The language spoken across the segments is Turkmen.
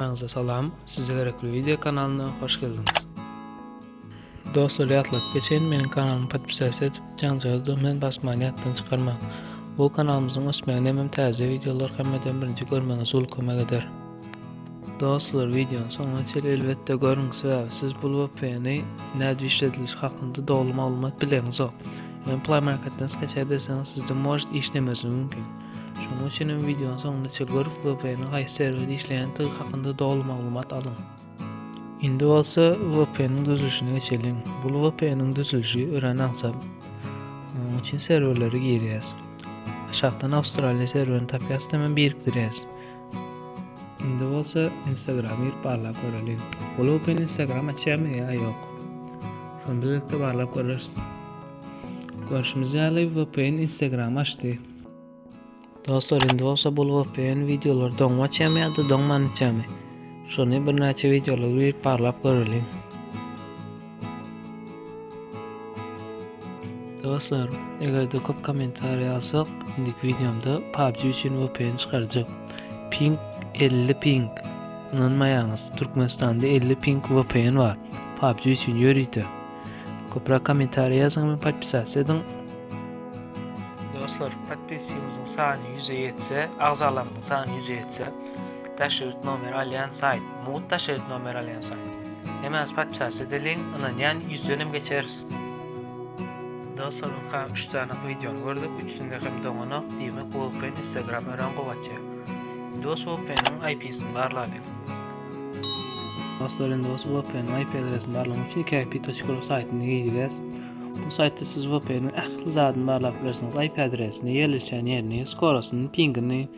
Hammaňyza salam, size gerekli video kanalyna hoş geldiňiz. Dostlar ýatladyp geçen meniň kanalymy podpisasiýa edip, jaňjagy düwmen basmany ýatdan çykarmaň. Bu kanalymyzyň ösmegine hem täze videolar hemmeden birinji görmegiňiz uly kömek eder. Dostlar videony soňuna çenli elbetde görüň, sebäbi siz bu VPN-i nädip işledilişi hakynda dogry maglumat bileňizok. Hem Play Marketden skaçar deseniz sizde možet işlemezligi mümkin. Şonuň üçin hem wideonyň soňunda Çilgorf VPN-iň haýsy serwerde işleýändigi hakynda doly maglumat alyň. Indi bolsa VPN-iň düzülişine geçeliň. Bu VPN-iň düzülişi örän aňsat. Munuň üçin serwerlere girýäs. Aşakdan Awstraliýa serwerini tapýas hem birikdirýäs. Indi bolsa Instagram girip barlap göreliň. Bu VPN Instagram açýarmy ýa ýok? Şony bilelikde barlap göreris. Görşümiz ýaly VPN Instagram açdy. Dostlar indi bolsa bul VPN videolar doňmaçamy ýa-da doňmanyçamy? Şony birnäçe videolar girip barlap göreliň. Dostlar, eger-de köp kommentariýa alsak, indiki videomda PUBG üçin VPN çykarjak. Ping 50 ping. Ynanmaýaňyz, Türkmenistanda 50 ping VPN bar. PUBG üçin ýörite. Köprak kommentariýa ýazyň we podpisasiýa ediň. Dostlar, podpisýamyzyň sany 100-e ýetse, agzalarymyzyň sany 100-e ýetse, daş ýurt nomer alýan saýt, mugt daş ýurt nomer alýan saýt. Hemäňiz podpisasiýa edeliň, ynanýan 100-den hem geçeris. Dostlar, ynha 3 sany wideony gördük, üçüsinde hem doňanok, diýmek, VPN Instagram örän gowy açýar. Dos VPN-iň IP-sini barlalyň. Dostlar indi bolsa VPN IP adresini barlamak üçin iki IP toçka saytına gireceğiz. Bu saytta siz VPN'in ähli zadyny barlap bilersiniz. IP adresini, yerleşen yerini, skorasını, pingini,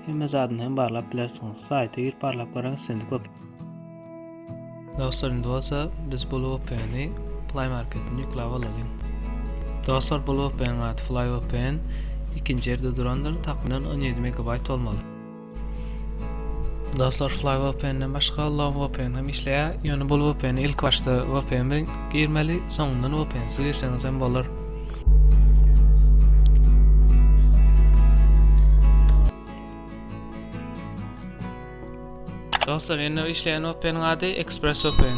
hemme zadyny hem barlap bilersiniz. Sayta girip barlap görüň istendik VPN. Dostlar indi bolsa biz bu VPN'i Play Market'ten yüklap alalım. Dostlar bu VPN adı Fly VPN ikinci yerde durandır. Takminan 17 MB olmalı. Dostlar Fly VPN-den başga Love VPN hem işleýär. Ýöne bul VPN-e ilk başda VPN bilen girmeli, soňundan VPN-siz girseňiz hem bolar. Dostlar, indi işleýän VPN-iň ady ExpressVPN.